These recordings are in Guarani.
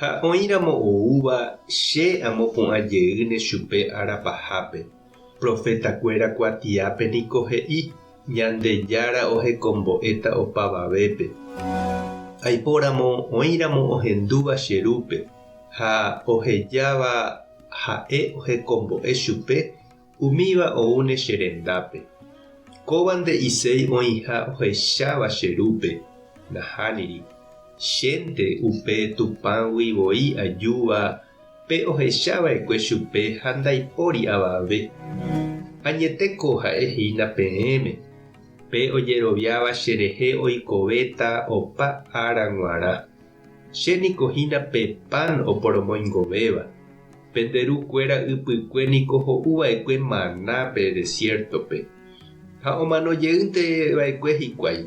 Ha oĩramo oúva che amopu'ã jeýne chupe ára pahápe, profetakuéra kuatiápe niko he'i, Ñandejára ohekombo'éta opavavépe. Aipóramo oĩramo ohendúva che rúpe ha ohejáva ha'e ohekombo'e chupe, Umíva oúne che rendápe. Kóva nde'iséi oĩha ohecháva che rúpe, nahániri. Chénte upe Tupãgui voi ajúva pe ohecha vaekue chupe ha ndaipóri avave. Añete ko ha'e hína peẽme, pe ojeroviáva cherehe oikovéta opa ára g̃uarã. Che niko hína pe pan oporomoingovéva, pende ru kuéra ypykue niko ho'u vaekue maná pe desiértope, ha omano jeýnte vaekue hikuái.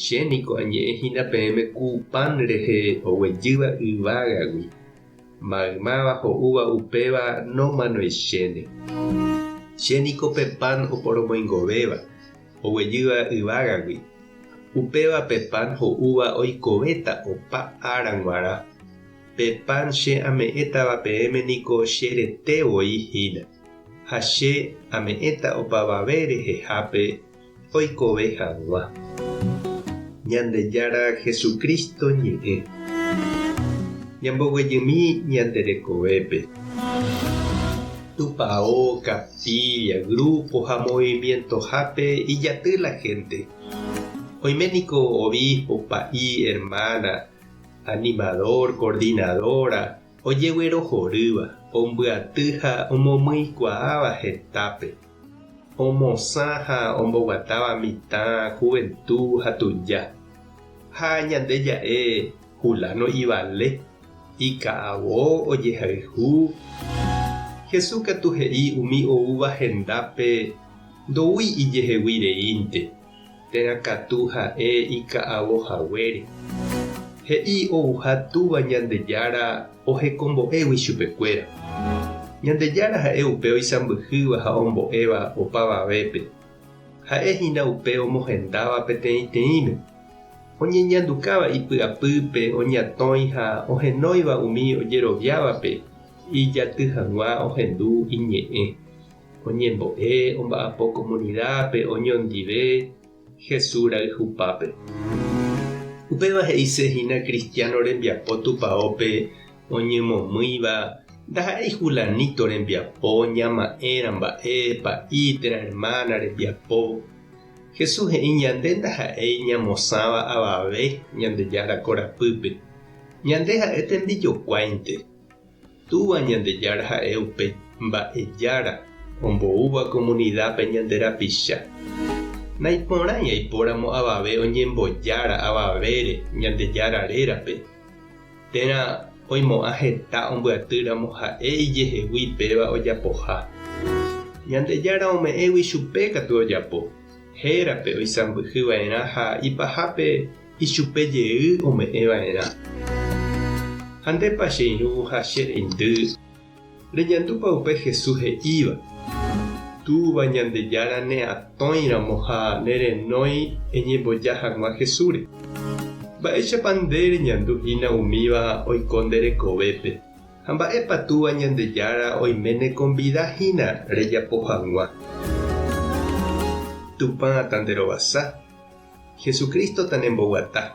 Che niko añe'ẽ hína peẽme ku pan rehe oguejýva yvágagui, maymáva ho'úva upéva nomanoichéne. Che niko pe pan oporomoingovéva. oguejýva yvágagui. Upéva pe pan ho'úva oikovéta opa ára g̃uarã. Pe pan che ame'ẽtava peẽme niko che rete voi hína. Ha che ame'ẽta opavave rehehápe oikove hag̃ua. Ñandejára Jesucristo ñe'ẽ. Ñamboguejymi ñande rekovépe. Tupao, capilla, grupo ha movimientohápe ijaty la gente. Oime niko obispo, pa'i, hermana, animador, coordinadora, ojeguerohorýva, ombyaty ha omomyikuaáva hetápe, omosã ha omboguatáva mitã juventud ha tuja, ha ñande ja'e Fulano ivale. Ika'avo ojehayhu. Jesús katu he'i umi oúva hendápe ndoúi ijehegui reínte, térã katu ha'e ika'avo haguére. He'i ouha Túva Ñandejára ohekombo'égui chupekuéra. Ñandejára ha'e upe oisãmbyhýva ha ombo'éva opavavépe. Ha'e hína upe omohendáva peteĩteĩme, oñeñandukáva ipy'apýpe oñatõi ha ohenóiva umi ojeroviávape ijaty hag̃ua ohendu iñe'ẽ, oñembo'e omba'apo komunidápe oñondive Jesús rayhupápe. Upéva he'ise hína kristiáno rembiapo tupaópe Oñemomýiva ndaha'éi fulanito rembiapo, ñama'ẽra mba'e, pa'i, térã ermána rembiapo. Jesús he'i ñande ndaha'éi ñamosãva avave Ñandejára korapýpe. Ñande ha'e tembijokuáinte. Túva Ñandejára ha'e upe Mba'ejára omboúva komunidápe ñande rapicha. Naiporãi aipóramo avave oñembojára avavére Ñandejára rérape. Térã oimo'ã heta ombyaty ramo ha'e ijehegui péva ojapoha. Ñandejára ome'ẽgui chupe katu ojapo, hérape oisãmbyhy va'erã ha ipahápe ichupe jey ome'ẽ va'erã. Ha ndépa che irũha che reindy Reñandúpa upe Jesús he'íva, Túva Ñandejára neatõiramo ha nerenói eñemboja hag̃ua Jesúsre? Mba'éichapa nde reñandu hína umíva oiko nde rekovépe, ha mba'épa Túva Ñandejára oime nekonvida hína rejapo hag̃ua? Tupã tanerovasa, Jesucristo tanemboguata.